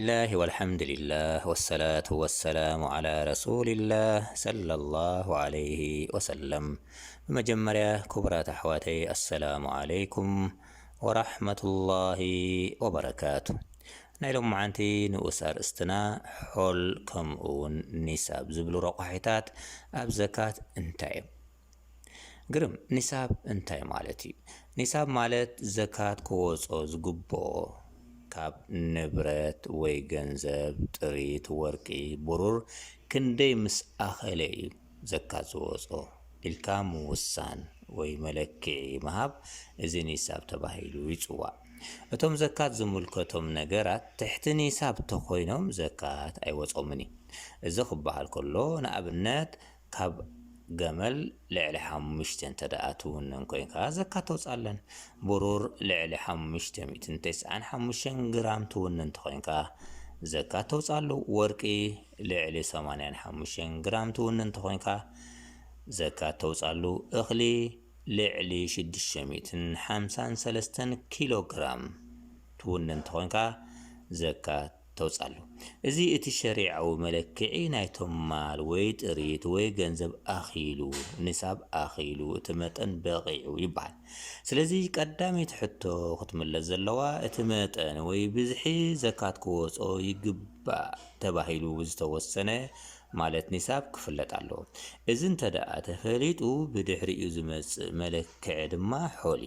ብስሚላህ ወልሓምድሊላህ ወሰላቱ ወሰላሙ ዓላ ረሱሊላህ ሰለላሁ ዓለይሂ ወሰለም ብመጀመርያ ክቡራት ኣሕዋተይ ኣሰላሙ ዓለይኩም ወራሕመቱላሂ ወበረካቱ ናይ ሎምዓንቲ ንኡስ ኣርእስትና ሖል ከምኡውን ኒሳብ ዝብሉ ረቋሒታት ኣብ ዘካት እንታይ እዮም ግርም! ኒሳብ እንታይ ማለት እዩ? ኒሳብ ማለት ዘካት ክወጾ ዝግብኦ ካብ ንብረት ወይ ገንዘብ፣ ጥሪት፣ ወርቂ፣ ብሩር፣ ክንደይ ምስ ኣኸለ እዩ ዘካት ዝወጾ ኢልካ ምውሳን ወይ መለክዒ ምሃብ እዚ ኒሳብ ተባሂሉ ይጽዋዕ። እቶም ዘካት ዝምልከቶም ነገራት ትሕቲ ኒሳብ ተኾይኖም ዘካት ኣይወጾምን እዩ። እዚ ክበሃል ከሎ ንኣብነት ካብ ገመል ልዕሊ ሓሙሽተ እንተደኣ ትውንን ኮይንካ ዘካ ተውጽኣለን። ብሩር ልዕሊ ሓሙሽተ ሚእትን ተስዓን ሓሙሽተን ግራም ትውንን እንተኾይንካ ዘካ ተውጽኣሉ። ወርቂ ልዕሊ ሰማንያን ሓሙሽተን ግራም ትውንን እንተኾይንካ ዘካ ተውጽኣሉ። እኽሊ ልዕሊ ሽዱሽተ ሚእትን ሓምሳን ሰለስተን ኪሎ ግራም ትውንን እንተኾይንካ ዘካ ተውጻሉ። እዚ እቲ ሸሪዓዊ መለክዒ ናይቶም ማል ወይ ጥሪት ወይ ገንዘብ ኣኺሉ፣ ኒሳብ ኣኺሉ፣ እቲ መጠን በቒዑ ይበሃል። ስለዚ ቀዳመይቲ ሕቶ ክትምለስ ዘለዋ እቲ መጠን ወይ ብዝሒ ዘካት ክወጾ ይግባእ ተባሂሉ ዝተወሰነ ማለት ኒሳብ ክፍለጥ ኣለዎ። እዚ እንተድኣ ተፈሊጡ ብድሕሪኡ ዝመጽእ መለክዒ ድማ ሖሊ።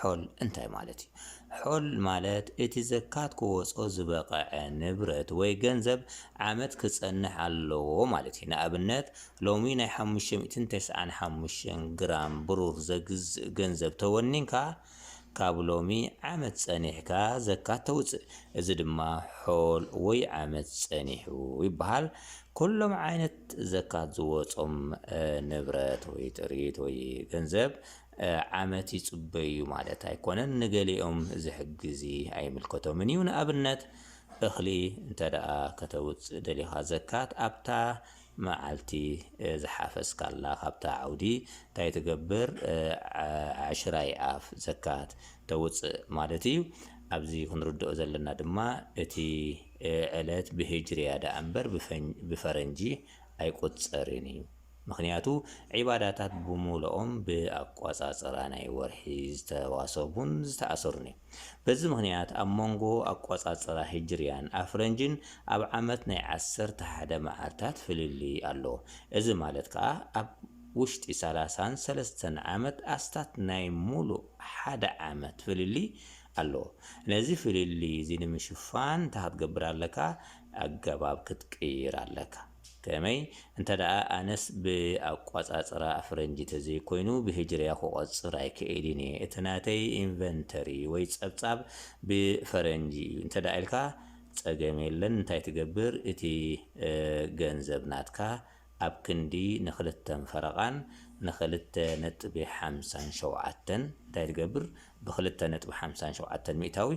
ሖል እንታይ ማለት እዩ? ሖል ማለት እቲ ዘካት ክወጾ ዝበቐዐ ንብረት ወይ ገንዘብ ዓመት ክጸንሕ ኣለዎ ማለት እዩ። ንኣብነት ሎሚ ናይ ሓሙሽተ ሚእትን ተስዓን ሓሙሽተን ግራም ብሩር ዘግዝእ ገንዘብ ተወኒንካ ካብ ሎሚ ዓመት ጸኒሕካ ዘካት ተውጽእ። እዚ ድማ ሖል ወይ ዓመት ጸኒሑ ይበሃል። ኩሎም ዓይነት ዘካት ዝወጾም ንብረት ወይ ጥሪት ወይ ገንዘብ ዓመት ይጽበዩ ማለት ኣይኮነን። ንገሊኦም እዚ ሕጊ'ዚ ኣይምልከቶምን እዩ። ንኣብነት እኽሊ እንተደኣ ከተውጽእ ደሊኻ ዘካት ኣብታ መዓልቲ ዝሓፈስካላ ካብታ ዓውዲ እንታይ ትገብር ዓሽራይ ኣፍ ዘካት ተውጽእ ማለት እዩ። ኣብዚ ክንርድኦ ዘለና ድማ እቲ ዕለት ብሂጅርያ ደኣ እምበር ብፈረንጂ ኣይቁጸርን እዩ። ምኽንያቱ ዒባዳታት ብሙሉኦም ብኣቋጻጽራ ናይ ወርሒ ዝተዋሰቡን ዝተኣሰሩን እዮም። በዚ ምኽንያት ኣብ መንጎ ኣቋጻጽራ ሂጅርያን ኣፍረንጅን ኣብ ዓመት ናይ ዓሰርተ ሓደ መዓልታት ፍልልይ ኣሎ። እዚ ማለት ከኣ ኣብ ውሽጢ ሰላሳን ሰለስተን ዓመት ኣስታት ናይ ሙሉእ ሓደ ዓመት ፍልልይ ኣሎ። ነዚ ፍልልይ እዚ ንምሽፋን እንታይ ክትገብር ኣለካ ኣገባብ ክትቅይር ኣለካ። ከመይ እንተደኣ ኣነስ ብኣቋጻጽራ ኣፍረንጂ ተዘይኮይኑ ብህጅርያ ክቆጽር ኣይክእልን እየ እቲ ናተይ ኢንቨንተሪ ወይ ጸብጻብ ብፈረንጂ እዩ እንተደኣ ኢልካ ጸገም የለን እንታይ ትገብር እቲ ገንዘብ ናትካ ኣብ ክንዲ ንክልተን ፈረቃን ንክልተ ነጥቢ ሓምሳን ሸውዓተን እንታይ ትገብር ብክልተ ነጥቢ ሓምሳን ሸውዓተን ሚእታዊ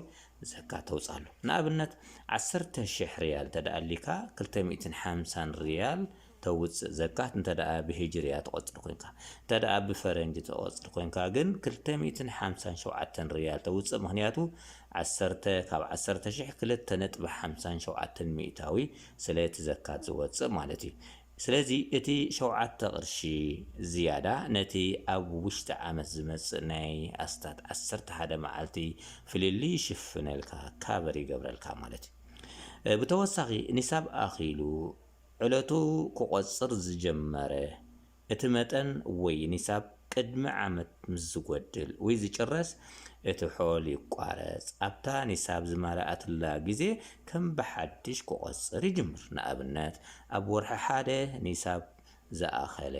ዘካ ተውጻሉ ንኣብነት ዓሰርተ ሽሕ ርያል እንተ ኣልካ ክልተ ሚእትን ሓምሳን ርያል ተውጽእ ዘካት እንተ ብሂጅርያ ትቆጽር ኮንካ እንተ ብፈረንጂ ትቆጽር ኮንካ ግን ክልተ ሚእትን ሓምሳን ሸውዓተን ርያል ተውጽእ ምክንያቱ ዓሰርተ ካብ ዓሰርተ ሽሕ ክልተ ነጥቢ ሓምሳን ሸውዓተን ሚእታዊ ስለቲ ዘካት ዝወጽእ ማለት እዩ ስለዚ እቲ ሸውዓተ ቅርሺ ዝያዳ ነቲ ኣብ ውሽጢ ዓመት ዝመጽእ ናይ ኣስታት ዓሰርተ ሓደ መዓልቲ ፍልልይ ይሽፍነልካ፣ ካቨር ይገብረልካ ማለት እዩ። ብተወሳኺ ኒሳብ ኣኺሉ ዕለቱ ክቆጽር ዝጀመረ እቲ መጠን ወይ ኒሳብ፣ ቅድሚ ዓመት ምስ ዝጎድል ውይ ዝጭረስ እቲ ሖል ይቋረጽ ኣብታ ኒሳብ ዝማለኣትላ ግዜ ከም ብሓድሽ ክቆጽር ይጅምር ንኣብነት ኣብ ወርሒ ሓደ ኒሳብ ዝኣኸለ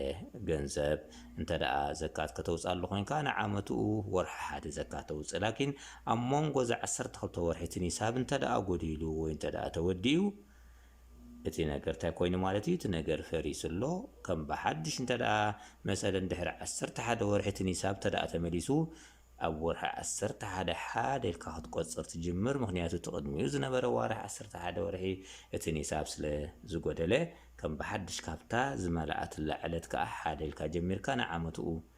ገንዘብ እንተድኣ ዘካት ከተውጽኣሉ ኮንካ ንዓመትኡ ወርሒ ሓደ ዘካት ተውጽእ ላኪን ኣብ ሞንጎ እዛ ዓሰርተ ክልተ ወርሒ እቲ ኒሳብ እንተድኣ ጎዲሉ ወይ እንተድኣ ተወዲኡ እቲ ነገር ታይ ኮይኑ ማለት እዩ እቲ ነገር ፈሪሱ ኣሎ ከም ብሓዱሽ እንተድኣ መሰለን ድሕሪ ዓሰርተ ሓደ ወርሒ እቲ ኒሳብ እንተድኣ ተመሊሱ ኣብ ወርሒ ዓሰርተ ሓደ ሓደ ኢልካ ክትቆፅር ትጅምር ምክንያቱ እቲ ቅድሚኡ ዝነበረ ዋርሒ ዓሰርተ ሓደ ወርሒ እቲ ኒሳብ ስለ ዝጎደለ ከም ብሓዱሽ ካብታ ዝመለኣትላ ዕለት ከዓ ሓደ ኢልካ ጀሚርካ ንዓመትኡ